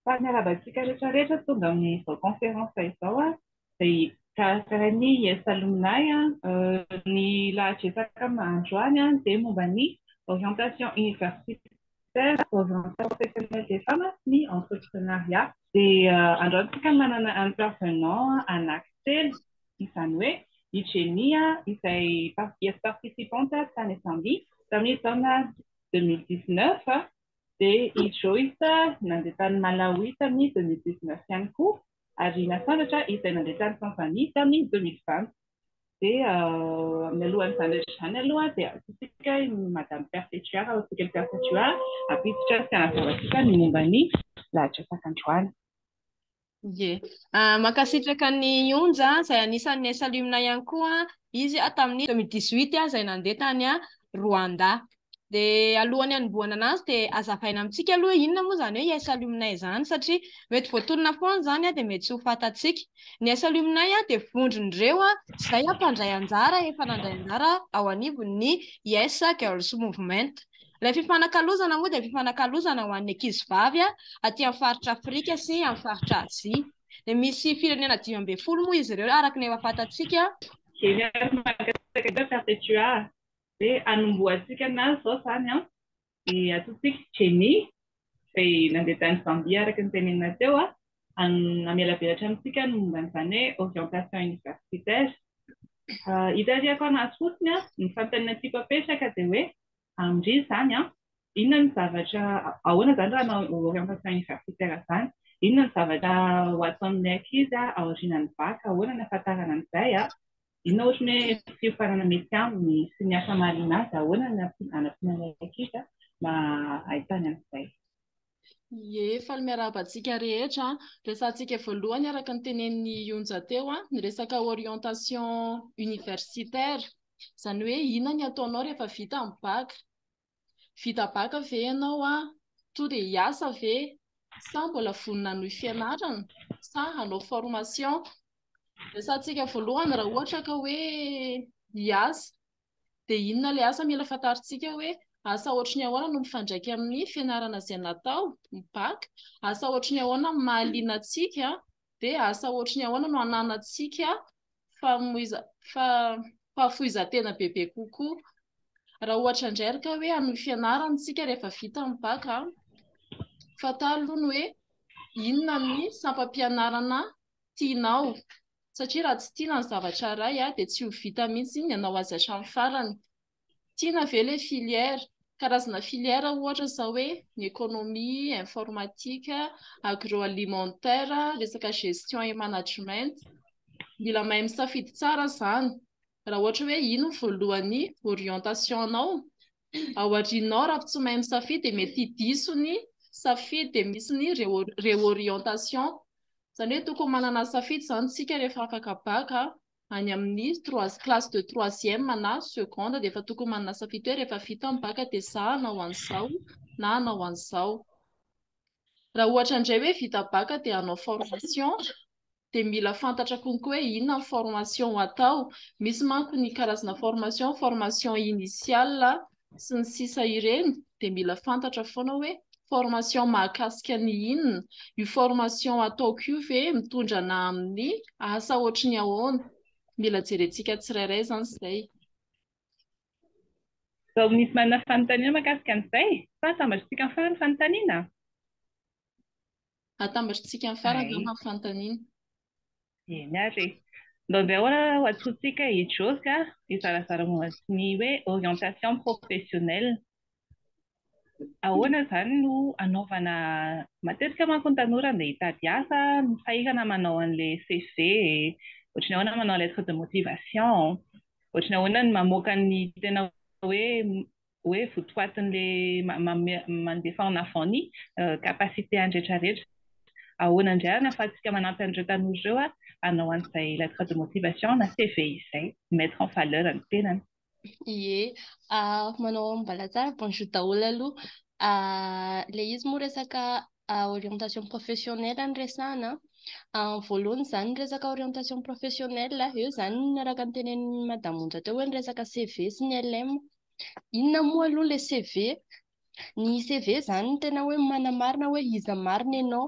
Fa miarahaba antsika rehetra rehetra tonga amin'izao conférence izao a, izay karakarain'ny IS Alumni a. Ny lahatra resaka androany a dia momba ny orientation universitaire, orientation professionnelle des femmes sy ny entreprenariat. Dia androany isika manana intervenant anaky telo, izany hoe i Jenny a izay IS participante tany Zambie tamin'ny taona deux mille dix-neuf, Dia i Joyce nandeha tany Malawi tamin'ny deux mille dix neuf ihany koa, ary i Nasandratra izay nandeha tany Tanzanie tamin'ny deux mille vingt. Dia mialohan'izany rehetra izany aloha dia ataontsika i Madame Perpetua Rahotokelly Perpetua hampiditra sy hanazava antsika ny momba ny lahatra sakandroany. Ie. Ah, mankasitraka ny Onja, izay anisan'ny niasa alumni ihany koa. Izy ah, tamin'ny 2018 ah, izay nandeha tany ah, Rwanda. Dia alohan'ny hanombohana anazy dia azavaina amintsika aloha hoe inona moa izany hoe hiasa alumni izany satria mety voatonona foana izany ah, dia mety tsy ho fantatsika. Ny hiasa alumni ah, dia vondron'ireo ah, izay ah, mpandray anjara efa nandray anjara ao anivon'ny Yes Girls Movement. Ilay fifanakalozana moa dia fifanakalozana ho an'ny ankizivavy aty amin'ny faritra Afrika sy amin'ny faritra Azia. Dia misy firenena dimy ambin'ny folo moa izy ireo araka ny efa fantatsika. Jereo ary mankasitraka indrindra Perpetua a! Hoe hanombohantsika ny nazy izao izany an! Dia antsointsika Jenny izay nandeha tany Zambia araka ny tenenina teo an! Hamelavelatra amintsika ny momba an'izany hoe orientation universitaire. Hitarihako an'azy fotsiny an! Ny fanontaniana tiako apetraka dia hoe Amindry izany, inona no zavatra, ahoana izany raha hanao orientation universitaire izany, inona no zavatra ho ataon'ilay ankizy aorianan'ny bac, ahoana no hahafantarana an'izay, inona ohatran'ny hoe fiofanana mety aminy sy ny asa mahaliana azy, ahoana no hanampiana an'ilay ankizy mba hahitany an'izay. Ie, faly miarahaba antsika rehetra. Resahantsika voalohany araka ny tenenin'i Yonja teo ny resaka orientation universitaire. Izany hoe inona ny ataonao rehefa vita ny bac. Vita bac ve ianao tonga dia hiasa ve sa mbola vonona hanohy fianarana sa hanao formation. Resahantsika voalohany raha ohatra ka hoe hiasa. Dia inona ilay asa mila fantarintsika hoe asa ohatry ny ahoana no mifandraika amin'ny fianarana izay natao, ny bac, asa ohatry ny ahoana no mahaliana antsika, dia asa ohatry ny ahoana no ananantsika famoiza, fa, fahafoizan-tena bebe kokoa. Raha ohatra indray ary ka hoe amin'ny fianarana isika rehefa vita ny bac, fantaro aloha ny hoe inona ny sampam-pianarana tianao, satria raha tsy tiana ny zavatra iray dia tsy ho vita mihitsy ny hanao azy hatramin'ny farany. Tiana ve ilay filière? Karazana filière ohatra izao hoe ny économie, informatique, agroalimentaire, resaka gestion et management. Mila mahay misafidy tsara izany raha ohatra hoe iny no voalohany orientation-nao ao aorianao raha tsy mahay misafidy dia mety hidiso ny safidy dia misy ny réorientation izany hoe tokony manana safidy izany isika rehefa afaka bac any amin'ny trois classe de troisième na seconde dia efa tokony manana safidy hoe rehefa vita ny bac dia sa hanao an'izao na hanao an'izao. Raha ohatra indray hoe vita bacc dia hanao formation dia mila fantatra konko hoe inona ny formation ho atao. Misy manko ny karazana formation, formation initiale sy ny sisa ireny dia mila fantatra foana hoe formation mahakasika ny inona, io formation ataoko io ve mitondra ana amin'ny asa ohatry ny ahoana. Mila jerentsika tsirairay izany izay. Vao misy manana fanontaniana mahakasika an'izay? Sa atambatritsika amin'ny farany ny fanontaniana? Atambatritsika amin'ny farany angamba ny fanontaniana. Eny ary e. Mba omeo ho antsointsika i Josy hizarazara momba ny hoe orientation professionnelle. Ahoana izany no anaovana, matetika manko ny tanora andeha hitady asa no sahirana manao an'ilay CV e, ohatry ny ahoana manao lettre de motivation, ohatry ny ahoana ny mamoaka ny tena hoe hoe votoatin'ilay mandefa en avant ny capacité-ny rehetra rehetra. Ahoana indray ary no ahafahantsika manampy an'ireo tanora ireo hanao an'izay lettre de motivation na CV izay, mi-mettre en valeur ny tenany. Ie, manao ambalatsara, bonjour daholo aloha. Ilay izy moa resaka orientation professionnelle no resahana an, voalohany izany ny resaka orientation professionnelle, eo izany ny araka ny tenenin'i madame Onja teo hoe ny resaka CV sy ny LM, inona moa aloha ilay CV? Ny CV izany no tena hoe manamarina hoe iza marina ianao.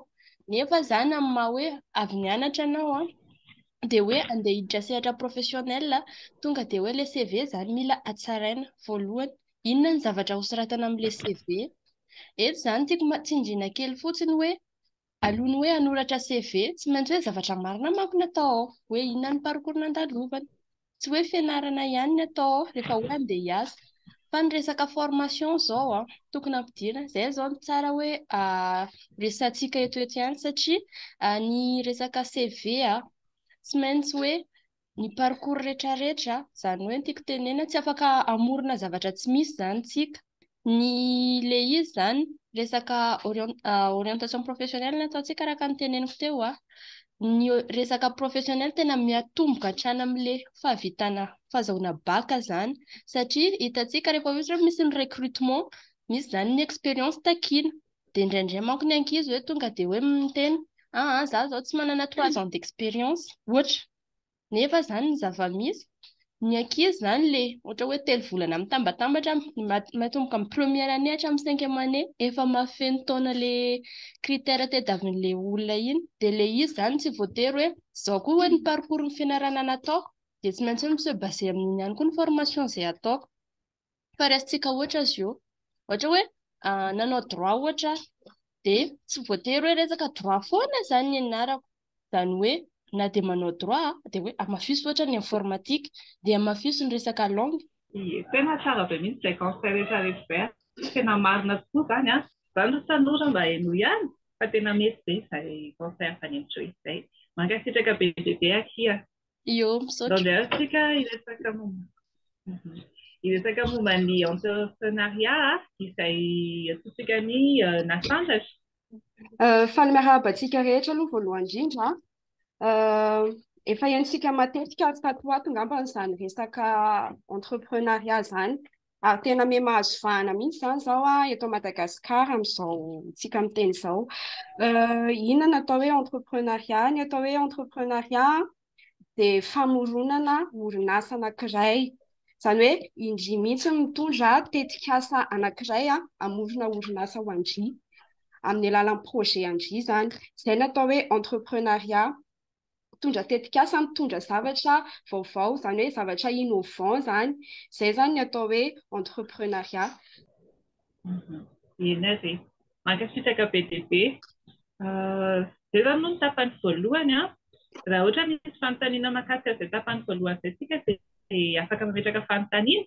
Nefa izany amin'ny maha hoe avy nianatra ianao an, dia hoe andeha hiditra sehatra professionnel, tonga dia hoe ilay CV izany mila hatsaraina voalohany. Inona ny zavatra hosoratana amin'ilay CV? Eto izany tiako tsindriana kely fotsiny hoe Alohan'ny hoe hanoratra CV, tsy maintsy hoe zavatra marina manko no atao ao, hoe inona ny parcours nandalovana. Tsy hoe fianarana ihany ny atao ao rehefa hoe andeha hiasa, fa ny resaka formation izao an, tokony ampidirina. Izay izao no tsara hoe resahantsika eto eto ihany satria ny resaka CV an, tsy maintsy hoe ny parcours retraretra, zany hoe ny tiako tenena tsy afaka amorona zavatra tsy misy zany tsika, ny le izy zany resaka orientation professionnelle no ataontsika araka ny teneniko teo a, ny resaka professionnelle tena miatomboka hatrany am le fahavitana fahazahoana bac zany satria hitantsika rehefa ohatra hoe misy ny recrutement misy zany ny expérience takiana dia indraindray manko ny ankizy hoe tonga dia hoe miteny ah, ah za zao tsy manana trois ans d'expérience ohatra nefa zany ny zava-misy ny ankizy zany le ohatra hoe telo volana mitambatambatra matomboka amin'ny première année hatramin'ny cinquième année efa mahafeno taona le critère tadiavin'le olona iny dia le izy zany tsy voatery hoe zao koa hoe ny parcours ny fianarana nataoko dia tsy maintsy hoe mi se baser amin'iny ihany koa ny formation izay ataoko fa raisintsika ohatra azy io. Ohatra hoe nanao droit ohatra aho, dia tsy voatery hoe resaka droit foana izany ny ianarako. Izany hoe na dia manao droit aho, dia hoe hamafiso ohatra ny informatique, dia hamafiso ny resaka langue. Ie, tena tsara be mihitsy izay conseil rehetra rehetra izay, tena marina tokoa izany an! Izaho aloha tanora mba henoy ihany fa tena mety be izay conseil avy any amin'ny Joyce izay. Mankasitraka be dia be akia. Io, misaotra. Andehantsika hiresaka momba hiresaka momba ny entrepreneuriat izay atsotsika ny nasandratra. Faly miarahaba antsika rehetra aloha voalohany indrindra. Efa henontsika matetika ato ho ato angamba izany resaka entrepreneuriat izany. Ary tena miha mahazo vahana mihitsy izany izao eto Madagasikara amin'izao tsika miteny izao. Inona no atao hoe entreprenariat? Ny atao hoe entreprenariat dia famoronana orinasa anankiray. Izany hoe indry mihitsy no mitondra tetikasa anankiray hamorona orinasa ho an-dry, amin'ny alalan'ny projet an-dry izany. Izay no atao hoe entreprenariat. mpitondra tetikasa mitondra zavatra vaovao, izany hoe zavatra innovant izany. Izay izany ny atao hoe entrepreneuriat. Eny ary e. Mankasitraka be dia be. Izay izany moa ny tapany voalohany an. Raha ohatra misy fanontaniana mahakasika an'izay tapany voalohany izay isika dia afaka mametraka fanontaniana.